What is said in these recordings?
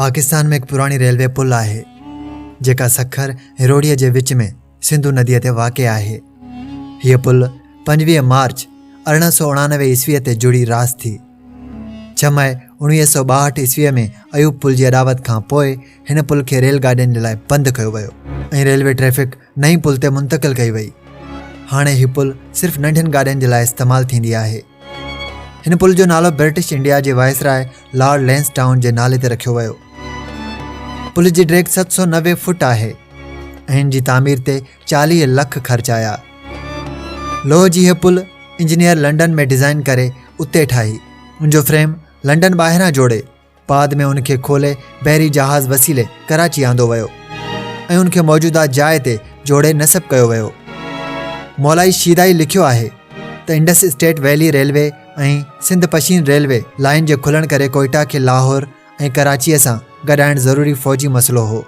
پاڪستان ۾ هڪ پراڻي ريلوي پل آهي جيڪا سکر هروڙيء جي وچ ۾ سنڌو نديء تي واقع آهي هيء پل پنجويهه مارچ ارڙهن سو اڻانوي عيسويء تي جڙي راس ٿي ڇهه مئي اڻويهه سو ٻاهٺ عيسويء ۾ ايوب پل جي اڏاوت کان پوء هن پل کي ريل گاڏين جي لاء بند ڪيو ويو ۽ ريلوي ٽريفڪ نئين پل تي منتقل ڪئي وئي هاڻي هي پل صرف ننڍين گاڏين جي لاء استعمال ٿيندي آهي هن پل جو نالو برٽش انڊيا جي وائسراء لارڊ لينس ٽائون جي نالي تي رکيو ويو پل جي ڊيگ ست سو نوي فوٽ آهي ان جي تعمير تي چاليهه لک خرچ آيا لوهه جي هي پل انجنيئر لنڊن ۾ ڊيزائن ڪري اتي ٺاهي ان جو فريم لنڊن ٻاهران جوڙي بعد ۾ ان کي کولي بحري جهاز وسيلي ڪراچي آندو ويو ۽ ان کي موجوده جاء تي جوڙي نصب ڪيو ويو مولائي شيدائي لکيو آهي ته Indus state valley railway ۽ Sindh Pishin railway line جي کلڻ ڪري ڪوئٽا کي لاهور ۽ ڪراچيء سان گڏائڻ ضروري فوجي مسئلو هو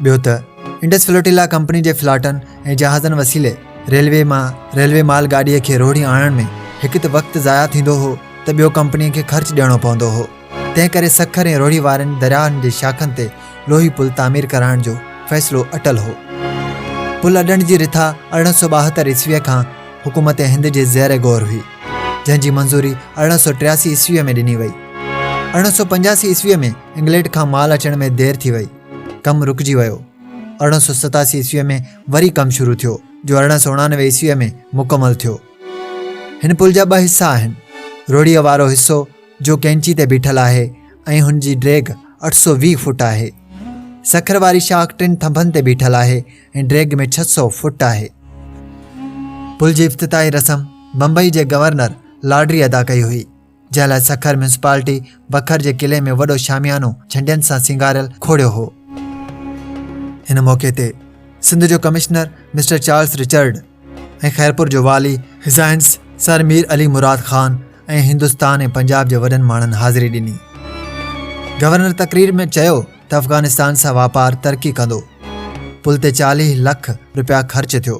ٻيو ته انڊس فلوٽيلا ڪمپني جي فلاٽن ۽ جهازن وسيلي ريلوي مان ريلوي مال گاڏيء کي روهڙي آڻڻ ۾ هڪ ته وقت ضايع ٿيندو هو ته ٻيو ڪمپنيء کي خرچ ڏيڻو پوندو هو تنهن ڪري سکر ۽ روهڙي وارين درياهن جي شاخن تي لوهي پل تعمير ڪرائڻ جو فيصلو اٽل هو پل اڏڻ جي رٿا ارڙهن سو ٻاهتر عيسويء کان حڪومت هند جي زير غور هئي جنهن جي منظوري ارڙهن سو ٽياسي عيسويء ۾ ڏني وئي ارڙهن سو پنجاسي عيسويء ۾ انگلينڊ کان مال اچڻ ۾ دير ٿي وئي ڪم رڪجي ويو ارڙهن سو ستاسي عيسويء ۾ وري ڪم شروع ٿيو جو ارڙهن سو اڻانوي عيسويء ۾ مڪمل ٿيو هن پل جا ٻه حصا آهن روڙيء وارو حصو جو ڪينچي تي بيٺل آهي ۽ هن جي ڊريگ اٺ سو ويهه فوٽ آهي سکر واري شاخ ٽن ٿنڀن تي بيٺل آهي ۽ ڊريگ ۾ ڇهه سو فوٽ آهي پل جي افتتاحي رسم بمبئي جي گورنر لاڊري ادا ڪئي هئي جنهن لاء سکر ميونسپالٽي بکر جي قلعي ۾ وڏو شاميانو جھنڊين سان سينگاريل کوڙيو هو هن موقعي تي سنڌ جو commissioner mister Charles Richard ۽ Khairpur جو والي هزائنس سر مير علي مراد خان ۽ هندستان ۽ پنجاب جي وڏن ماڻهن حاضري ڏني گورنر تقرير ۾ چيو ته افغانستان سان واپار ترقي ڪندو پل تي چاليهه لک روپيا خرچ ٿيو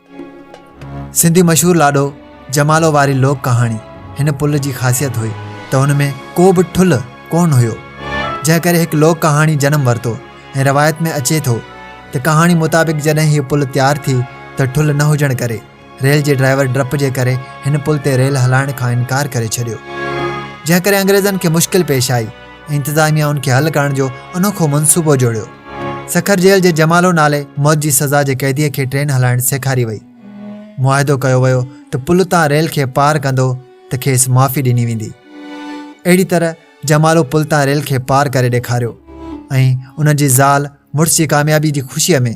سنڌي مشهور لاڏو جمالو واري لوڪ ڪهاڻي هن پل جي خاصيت هئي ته هن ۾ ڪو به ٺل ڪونه هيو جنهن ڪري هڪ لوڪ ڪهاڻي جنم ورتو ۽ روايت ۾ اچي ٿو ته ڪهاڻي مطابق جڏهن هيء پل تيار ٿي ته ٺل نه هجڻ ڪري ريل جي ڊرائيور ڊپ جي ڪري هن پل تي ريل هلائڻ کان انڪار ڪري ڇڏيو جنهن ڪري انگريزن کي مشڪل پيش آئي انتظاميا ان کي حل ڪرڻ جو انوکو منصوبو جوڙيو سکر جيل جي جمالو نالي موت جي سزا جي قيديء کي ٽرين هلائڻ سيکاري وئي معاهدو ڪيو ويو ته پل تان ريل کي پار ڪندو ته کيس معافي ڏني ويندي اهڙي طرح جمالو پل تان ريل کي پار ڪري ڏيکاريو ۽ ان جي زال مڙس جي ڪاميابي جي خوشيء ۾